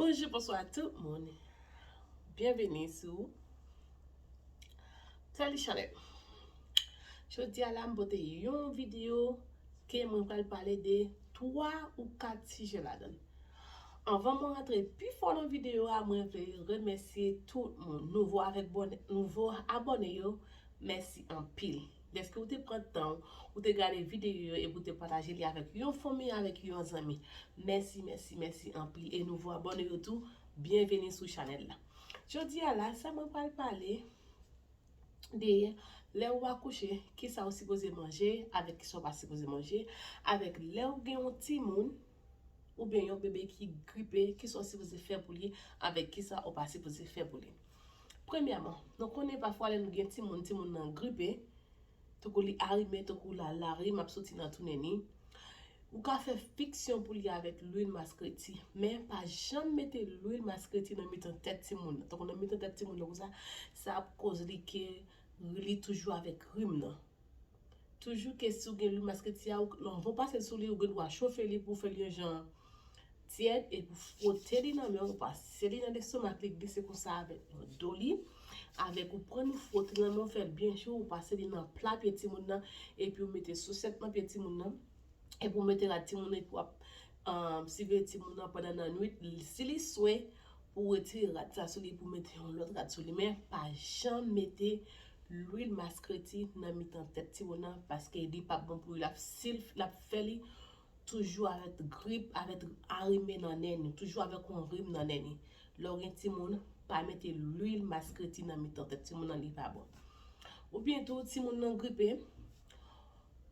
Bonjou bonswa tout moun Byenveni sou Tèli Chanèl Jodi a la m pote yon videyo ke mwen pral pale de 3 ou 4 sijè ladan Anvan mwen rantre pi fò nan videyo a mwen vle remèsye tout moun nouvo avèk nouvo abòne yo Mèsi anpil dèske ou te pran tan w ou te gade videyo yo epi ou te pataje li avèk yon fanmi avèk yon zanmi mèsi mèsi mèsi anpil e nouvo abòne yo tou byenveni sou chanèl la jodi a la sa mwen pral pale de lè ou akouche kisa ou sipoze manje avèk kisa ou pa sipoze manje avèk lè ou gen yon timoun oubyen yon bebe ki gripe kisa ou sipoze fè pou li avèk kisa ou pa sipoze fè pou li. Premyèman, nou konnen pafwa lè nou gen timoun, timoun nan gripe, tankou li arime, tankou la larim ap soti nan tounen li, ou ka fè fiksyon pou li avèk lwil maskreti. Men, pa janm mete lwil maskreti nan mitan tèt timoun nan, tankou nan mitan tèt timoun nan konsa, sa ap koz li ke li toujou avèk rim nan. Toujou ke si w gen lwil masketi a, non bon pase l sou li, ou gen dwa chofe li pou w fè l yon jan tyèd epi w fwote li nan men w, ou pase li nan lestomak li glise konsa avèk nan do li, avèk ou pran ou fwote nan men w fè l byen cho, ou pase li nan pla pye timoun nan epi ou mete sosèt nan pye timoun nan, epi ou mete rad timoun nan epi w ap siveye timoun nan pandan nannuit, si li swe Ou retire rad sa sou li pou mete yon lòt rad sou li men pa janm mete lwil maskreti nan mitan tèt timoun nan paske li pap bon pou li lap sil lap fè li toujou avèk grip avèk arime nan nen ni toujou avèk yon rim nan nen ni lè ou gen timoun pa mete lwil maskreti nan mitan tèt timoun nan li pa bon oubyen tou timoun nan gripe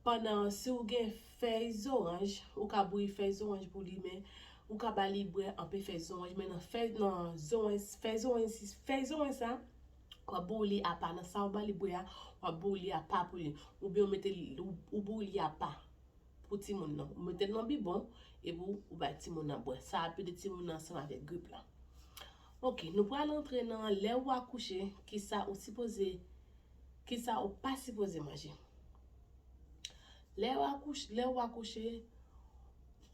pandan si ou gen Fèy zoranj, ou ka bouyi fèy zoranj pou li men ou ka ba li bwè anpe fèy zoranj men nan fèy nan zoranj fèy zoranj si fèy zoranj sa wap bouyi li apa nan sa ou ba li bwè a wap bouyi li apa pou li oubyen ou mete li ou bouyi li apa pou timoun nan ou mete l nan bibon epi ou bay timoun nan bwè sa ap ede timoun nan ansanm avèk grip la ok nou pral antre nan lè ou akouche kisa ou sipoze kisa ou pa sipoze manje. Lè ou akouche, lè ou akouche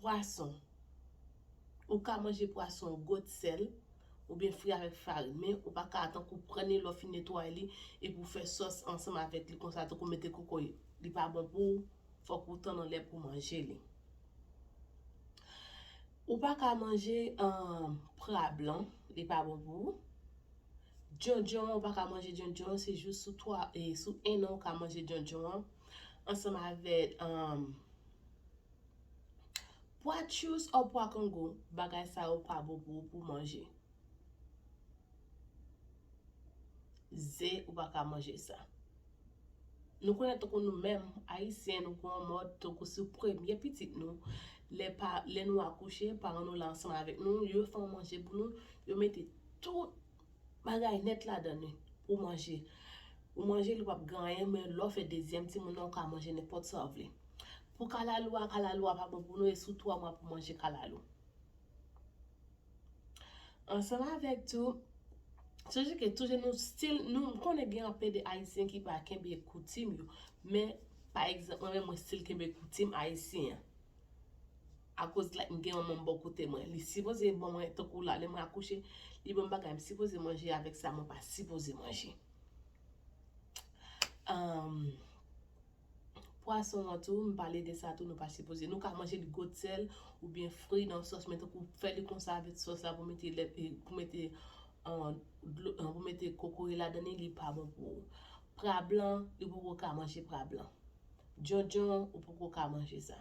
pwason, ou ka manje pwason goat sèl oubyen fri avèk farin men ou pa ka tankou pran li lè w fin netwaye li epi w fè sòs ansanm avèk li konsa tankou mete kokoye li pa bon pou ou fòk ou tann anlè pou w manje li. Ou pa ka manje pra blan li pa bon pou ou, djondjon an ou pa ka manje djondjon se jous sou 3 e sou 1 an ou ka manje djondjon an. Ansanm avèk pwa tchous or pwa kongo, bagay sa yo pa bon pou ou pou manje. Ze ou pa ka manje sa. Nou konnen tankou nou menm ayisyen nou gen yon mòd tankou si premye pitit nou lè nou akouche paran nou la ansanm avèk nou yo fè yon manje pou nou yo mete tout Bagay nèt ladann wi. Ou manje. Ou manje li pap gen anyen men lè w fè dezyèm timoun nan ou ka manje nenpòt sa w vle. Pou kalalou a, kalalou a pa bon pou nou e sou 3 mwa pou manje kalalou. Ansanm avèk tou, sonje ke tou jen nou stil nou m konnen gen anpe de ayisyen ki pa kenbe koutim yo men pa egzanp mwen menm mwen stil kenbe koutim ayisyen an. Akoz like m gen yon moun bò kote mwen li sipoze ban mwen tankou la lè mwen akouche li banm bagay m sipoze manje avèk sa mwen pa sipoze manje humm pwason an tou m pale de sa tou nou pa sipoze nou ka manje li gwo sèl oubyen fri nan sòs men tankou fè li konsa avèk sòs la pou mete lèt pou mete an pou mete kokoye ladan li li pa bon pou ou pra blan ou poko ka manje pra blan djondjon ou poko ka manje sa.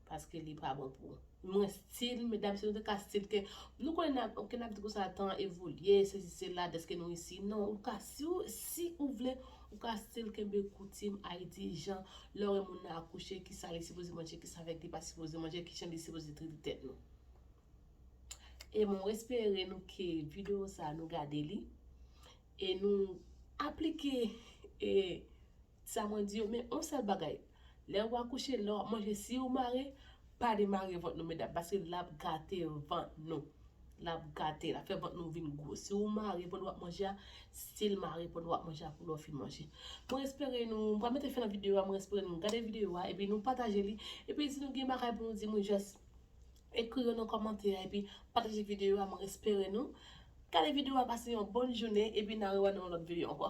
Paske li pa bon pou Mwen stil medam si nou te ka stil ke nou konnen nap ok nap di konsa tan an evolye sesi sela deske nou isi non ou ka si ou si ou vle ou ka stil kenbe koutim ayiti jan lè ou wè moun nan akouche kisa li sipoze manje kisa vèk li pa sipoze manje kijan li sipoze trete tèt nou e mwen espere nou ke video sa nou gade li e nou aplike e Sa mwen di yo men yon sèl bagay lè ou akouche lè wap manje si ou mare pa demare vant nou medam paske lap gate vant nou lap gate lap fè vant nou vin gwo si ou mare pandan wap manje a sil mare pandan wap manje a pou lè ou fin manje mwen espere nou mwen pral mete fen nan video a mwen espere nou gade video a epi nou pataje li epi si nou gen bagay pou nou di mwen jès ekri yo nan kòmantè a epi pataje video a mwen espere nou gade video a pase yon bòn jounen epi na rewa nou nan lòt video ankò.